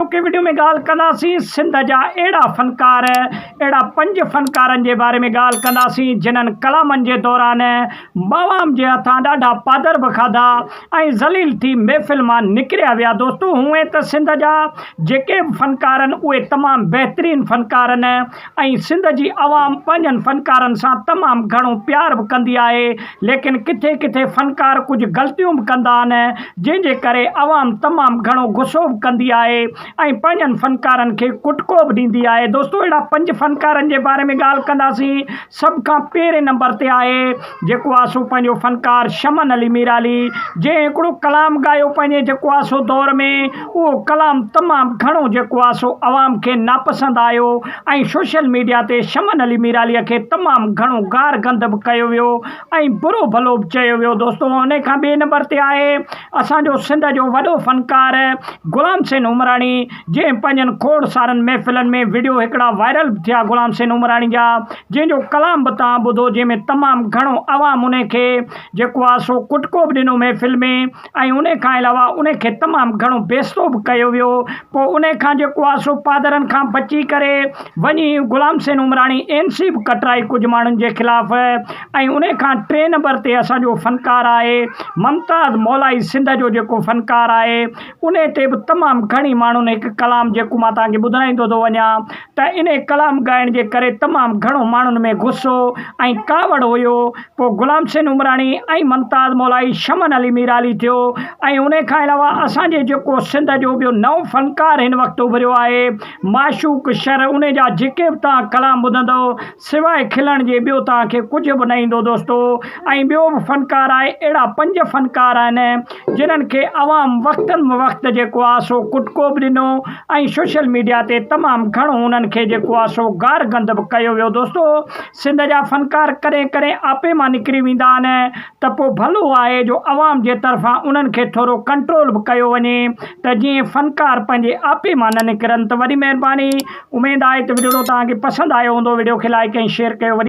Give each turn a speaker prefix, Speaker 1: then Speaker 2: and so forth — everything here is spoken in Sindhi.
Speaker 1: اڄوڪي وڊيو ۾ ڳالهه ڪنداسين سنڌ جا اهڙا فنڪار اهڙا پنج فنڪارن جي باري ۾ ڳالهه ڪنداسين جنھن ڪلامن جي دوران عوام جي هٿان ڏاڍا پادر به کاڌا ۽ ذليل ٿي محفل مان نڪريا ويا دوستو هونئن ته سنڌ جا جيڪي به فنڪارن اهي تمام بهترين فنڪارن ۽ سنڌ جي عوام پنهنجن فنڪارن سان تمام گهڻو پيار به ڪندي آهي ليڪن ڪٿي ڪٿي فنڪار ڪجهه غلطيون به ڪندا آهن جنهن جي ڪري عوام تمام گهڻو غصو به ڪندي آهي ۽ پنهنجن فنڪارن کي ڪٽڪو به ڏيندي آهي دوستو اهڙا پنج فنڪارن جي باري ۾ ڳالهه ڪنداسين سڀ کان پهرين نمبر تي آهي جيڪو آهي سو پنهنجو فنڪار شمن علي ميرعلي جنهن هڪڙو ڪلام ڳايو پنهنجي جيڪو آهي سو دور ۾ اهو ڪلام تمام گهڻو جيڪو آهي سو عوام کي ناپسند آيو ۽ سوشل ميڊيا تي شمن علي ميرعلي کي تمام گهڻو گار گند به ڪيو ويو ۽ برو ڀلو به چيو ويو دوستو انهي کان ٻئي نمبر تي آهي اسان جو سنڌ جو وڏو فنڪار غلام حسين عمراڻي جنهن پنهنجن کوڙ سارن محفلن ۾ وڊيو هڪڙا وائرل به ٿيا غلام حسين عمراڻي جا جنهن جو ڪلام به توهان ٻڌو جنهن ۾ تمام گهڻو عوام ان کي جيڪو آ سو ڪٽڪو به ڏنو محفل ۾ ۽ ان کان علاوه ان کي تمام گهڻو بيستو به ڪيو ويو پو ان کان جيڪو آ سو پادرن کان بچي ڪري وڃي غلام حسين عمراڻي اين سي به ڪٽرائي ڪجهه ماڻهن جي خلاف ۽ ان کان ٽي نمبر تي اسان جو فنڪار آهي ممتاز مولائي سنڌ جو جيڪو فنڪار آهي انهي تي به تمام گهڻي ماڻهن هڪ ڪلام جيڪو مان توهان کي ٻڌرائيندو ٿو وڃان ته انهي ڪلام ڳائڻ جي ڪري تمام گهڻو ماڻهن ۾ غصو ۽ ڪاوڙ هيو پوء غلام حسين عمراڻي ۽ ممتاز مولائي شمن علي ميرعلي ٿيو ۽ انهي کان علاوه اسان جي جيڪو سنڌ جو ٻيو نئون فنڪار هن وقت اڀريو آهي معشوق شر انهي جا جيڪي به توهان ڪلام ٻڌندؤ سواء کلڻ جي ٻيو توهان کي ڪجهه به نه ايندو دوستو ۽ ٻيو به فنڪار آهي اهڙا پنج فنڪار آهن جنهن کي عوام وقت به وقت جيڪو آهي سو ڪٽڪو به ڏنو ۽ سوشل ميڊيا تي تمام گهڻو انهن کي جيڪو آهي سو گار گند به ڪيو ويو دوستو سنڌ جا فنڪار ڪڏهن ڪڏهن آپي مان نڪري ويندا آهن ته پوء ڀلو آهي جو عوام جي طرفان انهن کي ٿورو ڪنٽرول به ڪيو وڃي ته جيئن فنڪار پنهنجي آپي مان نه نڪرن ته وڏي مهرباني اميد آهي ته وڊيوڊو توهان کي پسند آيو هوندو وڊيو کي لائيڪ ۽ شيئر ڪيو وڏي